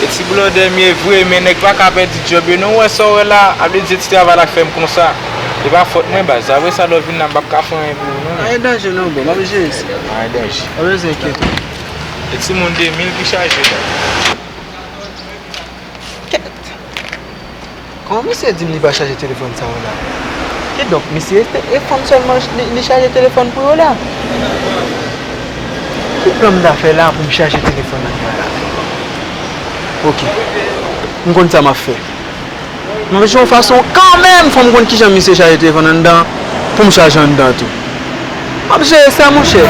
E ti blòdè m ye vre men nèg paka pèdi djòb yo non ou wè sa w wè la a vle di e ti travay la k fè m konsa e pa fòt mwen baz apre sa lè w vin la m pap ka fè anyen pou ou non. Anyen danje non bro map jere sa. Anyen danje. Pa bezwen enkyete w. E ti moun 2000 ki chaje la. Kèt. Kòman misye dim li pa chaje telefòn sa yo la? Kidonk misye se e fanm sèlman li chaje telefòn pou yo la? Ki plan m ta fè la pou m chaje telefòn ak mwen la? Ok, m konn sa m ap fè. M ap jwe yon fason kanmenm fò m konn kijan misye chaje telefòn anndan an pou m chaje anndan tou. M ap jere sa monchè.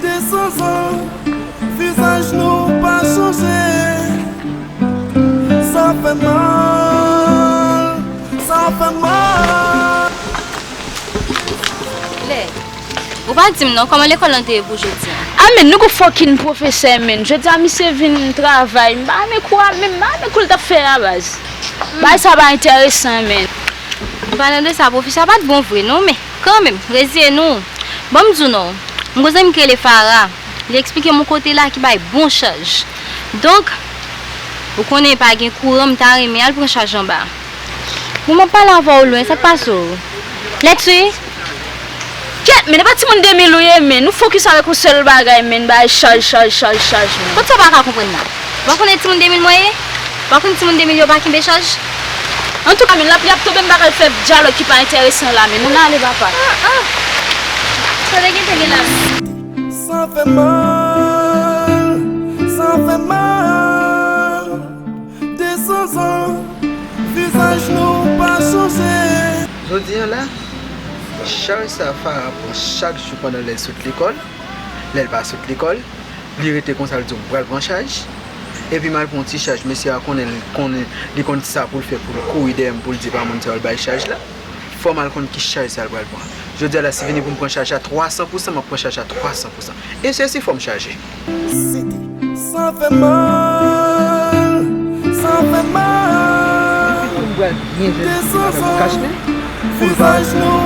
Desanzan, vizaj nou pa chanje. Sa fè mal, sa fè mal. Lè, Ou pa di m non, kòman lekòl lan te ye pou jodi an? A men, nou gon fòkinn pwofesè menn. Jodi a misye vin travay, m pa renmen kou a menm. M pa renmen kou l t ap fè a baz. Bagay sa pa enteresan menn. An palan de sa, pwofesè a pa t bon vre non men. Kanmenm, reziyen nou. Ban m di w non. M gen yon zanmi ki rele Fara. Li eksplike m yon kote la ki bay bon chaj. Donk, ou konnen pa gen kouran m ta renmen al pran chaj anba. Bon, m ap pale avè w lwen, sa k pase w? Lèt swiv. Kyèt menn, e pa timoun 2000 ou ye menn. Ou fokis avèk yon sèl bagay menn, bay chaj, chaj, chaj, chaj menn. Kot sa w pa ka konprann la? Wa konnen timoun 2000 mwen ye? Wa konn timoun 2000 yo pa kenbe chaj? Antouka men lapli ap tonbe m pa pral fè dyalòg ki pa enteresan la men nou nan ale papa. Ah ah Tande gen te gen la. Sa fè mal, sa fè mal 200 zan vizaj nou pa chanje. Jodi an la, chaj sa Farah pran chak jou pandan lè l sot lekòl, lè l pa sot lekòl. Li rete konsa li di m pral pran chaj epi m al pran yon ti chaj mesye a konnen li konnen li konn kisa pou l fè pou l kouri dèyè m pou l di pa moun sa yo l bay chaj la fò m al konn ki chaj sa l pral pran jodi a la si vini pou m pran chaj la 300 pousan m ap pran chaj la 300 pousan e se si fò m chaje. Sidi, Sa fè mal sa fè mal Depi tou m pral byen jwenn ti madanm kach men pou l pa jwenn.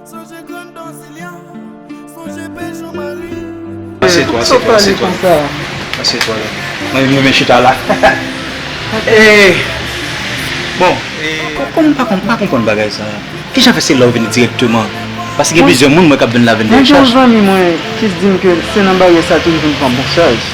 Asye to asye to asye to asye to Mwen menm mwen chita la Bon Kom m pa konn m pa konprann bagay sa Kijan fè se la ou vini direkteman Paske gen plizyè moun mwen k ap vin la vin fè chaj Mwen gen yon zanmi mwen ki di m ke se nan baryè sa ke li vin pran bouchaj.